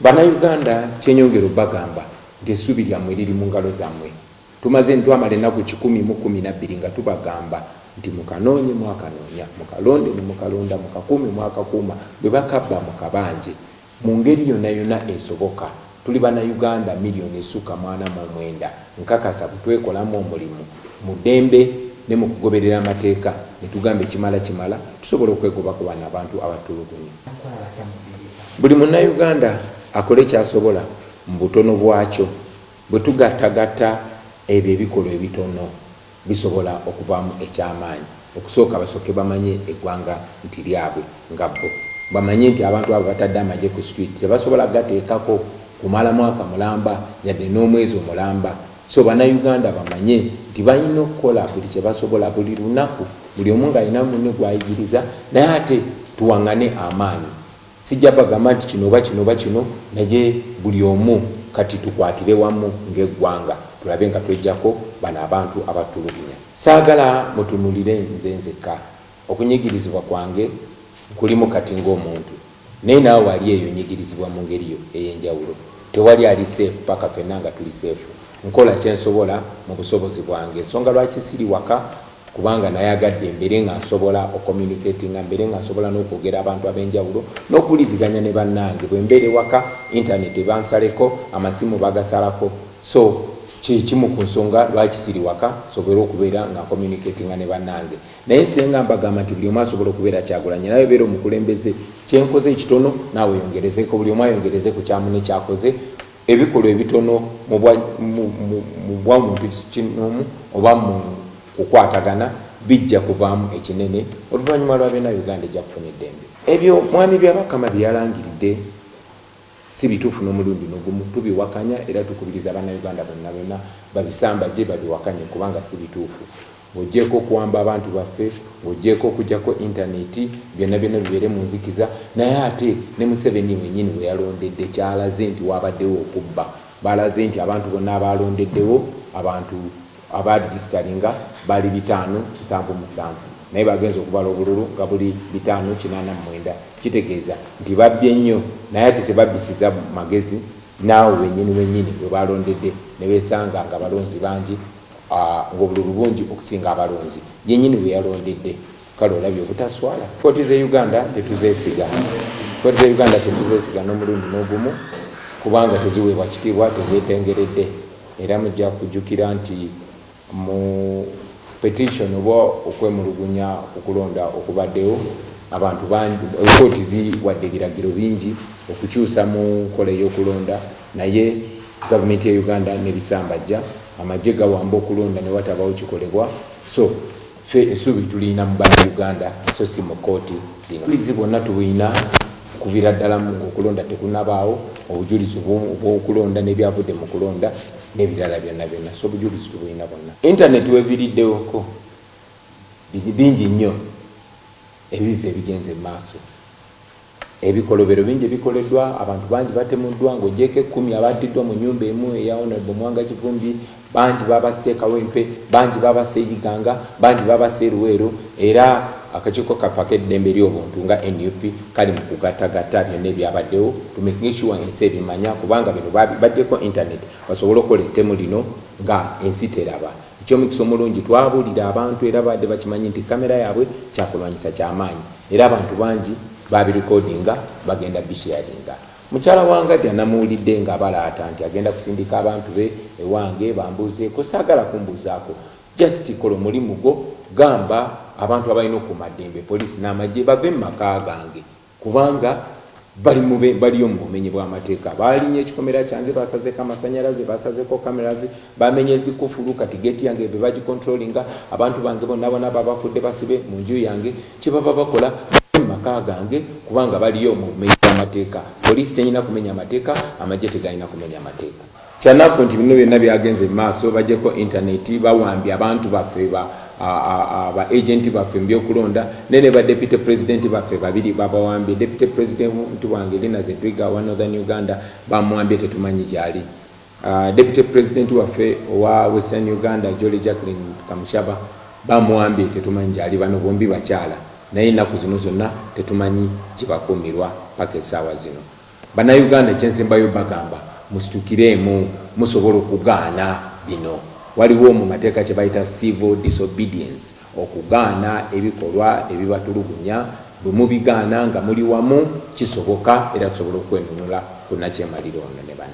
Bannayuganda kyenyongera obagamba nti essuubi lyammwe liri mu ngalo zammwe. Tumaze ntwamala ennaku kikumi mu kkumi nabbiri nga tubagamba nti mukanoonye mwakanoonya, mukalonde ne mukalonda, mukakuume mwakakuuma, bwe bakabba mukabanje mu ngeri yonna yonna esoboka. Tuli Bannayuganda million esukka mu ana mu omwenda nkakasa bwe twekolamu omulimu mu ddembe ne mu kugoberera amateeka ne tugamba ekimala kimala tusobola okwegoba ku bano abantu abatulugunya. Buli munnayuganda akole ky'asobola mu butono bwakyo. Bwe tugattagatta ebyo ebikolwa ebitono bisobola okuvaamu eky'amaanyi. Okusooka basooke bamanye eggwanga nti lyabwe nga bbo. Bamanye nti abantu abo batadde amagye ku street tebasobola gateekako kumala mwaka mulamba yadde n'omwezi omulamba. So bannayuganda bamanye nti balina okukola buli kye basobola buli lunaku buli omu ng'alina munne gw'ayigiriza naye ate tuwang'ane amaanyi. Sijja bagamba nti kino oba kino oba kino naye buli omu kati tukwatire wamu ng'eggwanga tulabe nga tweggyako bano abantu abatulugunya. Saagala mutunuulire nze nzekka. Okunyigirizibwa kwange nkulimu kati ng'omuntu naye naawe ali eyo onyigirizibwa mu ngeri yo ey'enjawulo. Tewali ali seefu paka fenna nga tuli seefu. Nkola kye nsobola mu busobozi bwange ensonga lwaki siri waka. kubanga nayagadde mbere nga nsobola ocommunicatinga mbere nga nsobola nokwogera abantu abenjawulo nokuwuliziganya ne bannange bwembeera ewaka internet ebansaleko amasimu bagasalako so kyekimu ku nsonga lwaki siri waka sobole okubeera nga communicatinga ne bannange naye senga mbagamba nti buli omu asobola okubeera kyagulanye nawe beera omukulembeze kyenkoze ekitono naawe yongerezeko buli omu ayongereze ku kyamu nekyakoze Ebikolwa ebitono mu bwamuntu kinnoomu oba mu kukwatagana bijja kuvaamu ekinene oluvannyuma lwa byonna Uganda ejja kufuna eddembe. Ebyo Mwami Byabakama bye yalangiridde si bituufu n'omulundi n'ogumu. Tubiwakanya era tukubiriza Bannayuganda bonna bonna babisambajje babiwakanye kubanga si bituufu. Ng'oggyeeko okuwamba abantu baffe, ng'oggyeeko okuggyako internet, byonna byonna bibeere mu nzikiza, naye ate ne Museveni wenyini we yalondedde kyalaze nti waabaddewo okubba. Baalaze nti abantu bonna abaalondeddewo abantu aba registalinga baali bitaano kisanvu musanvu naye bagenze okubala obululu nga buli bitaano kinaana mwenda. Kitegeeza nti babbye nnyo naye ate tebabbisiza magezi n'awo wenyini wenyini we baalondedde ne beesanga ng'abalonzi bangi. ng'obululu bungi okusinga abalonzi yenyini bwe yalondedde kale olabye obutaswala kooti ze uganda tetuzesiga kooti ze uganda tetuzesiga n'omulundi n'ogumu kubanga teziweebwa kitiibwa tezetengeredde era mujja kujjukira nti mu petition oba okwemulugunya okulonda okubaddewo abantu bangi kooti ziwadde ebiragiro bingi okukyusa mu nkola ey'okulonda Naye government ya Uganda nebisambajja amagye gawamba okulonda newatabawo kikolebwa so fe esubi tulina mubana Uganda so si mukoti zino bizi bonna tubuyina kuvira ddala mu okulonda tekunabaawo obujulizi bwokulonda nebyavudde mu kulonda nebirala byonna byonna so obujulizi tubuyina bonna internet weviriddewoko bingi nnyo ebivva ebigenze mu maaso Ebikolobero bingi ebikoleddwa, abantu bangi batemuddwa, ng'oggyeeko ekkumi abaattiddwa mu nnyumba emu eya Honorable Mwanga Kivumbi, bangi baabasse e Kawempe, bangi baabasse e Iganga, bangi baabasse e Luweero era akakiiko kaffe ak'eddembe ly'obuntu nga nup kali mu kugattagatta byonna ebyabaddewo to making sure ensi ebimanya kubanga bino bajjeko internet basobole okukola ettemu lino nga ensi teraba. Eky'omukisa omulungi, twabuulira abantu era baabadde bakimanyi nti kkamera yaabwe kyakulwanyisa kya maanyi era abantu bangi baabirikodinga bagenda bisheyaringa. Mukyala wa Ngadya namuwulidde ng'abalaata nti agenda kusindika abantu be ewange bambuuzeeko. Saagala kumbuuzaako. Just kola omulimu gwo. Gamba abantu abalina okukuuma ddembe, poliisi n'amagye, bave mu maka gange. kubanga bali mube baliyo mu bumenyi bw'amateeka baalinya ekikomera kyange basazeko amasanyalaze basazeko cameras bamenye ezikufulu kati geti yange be bagikontrolinga abantu bange bonna bona babafudde basibe mu nju yange kyebaba bakola maka gange kubanga baliyo mu bumenyi bw'amateeka poliisi tenyina kumenya amateeka amagye tegalina kumenya amateeka Kyanaku nti bino byonna byagenze mu maaso bajeko internet bawambye abantu baffe ba ba agent baffe mubyokulonda naye ne ba deputy president baffe babiri babawambye deputy president wange Lina Zedriga wa Northern Uganda bamuwambye tetumanyi gyali uh, deputy president waffe owa Western Uganda Jolly Jacqueline Kamushaba bamuwambye tetumanyi gyali bano bombi bakyala naye ennaku zino zonna tetumanyi gyebakuumirwa paka essaawa zino Bannayuganda ekyensembayo bagamba musitukireemu musobola okugaana bino. Waliwo mu mateeka kye bayita civil disobedience, okugaana ebikolwa ebibatulugunya. Bwe mubigaana nga muli wamu kisoboka era tusobola okwenunula ku nnakyemalira ono ne banne.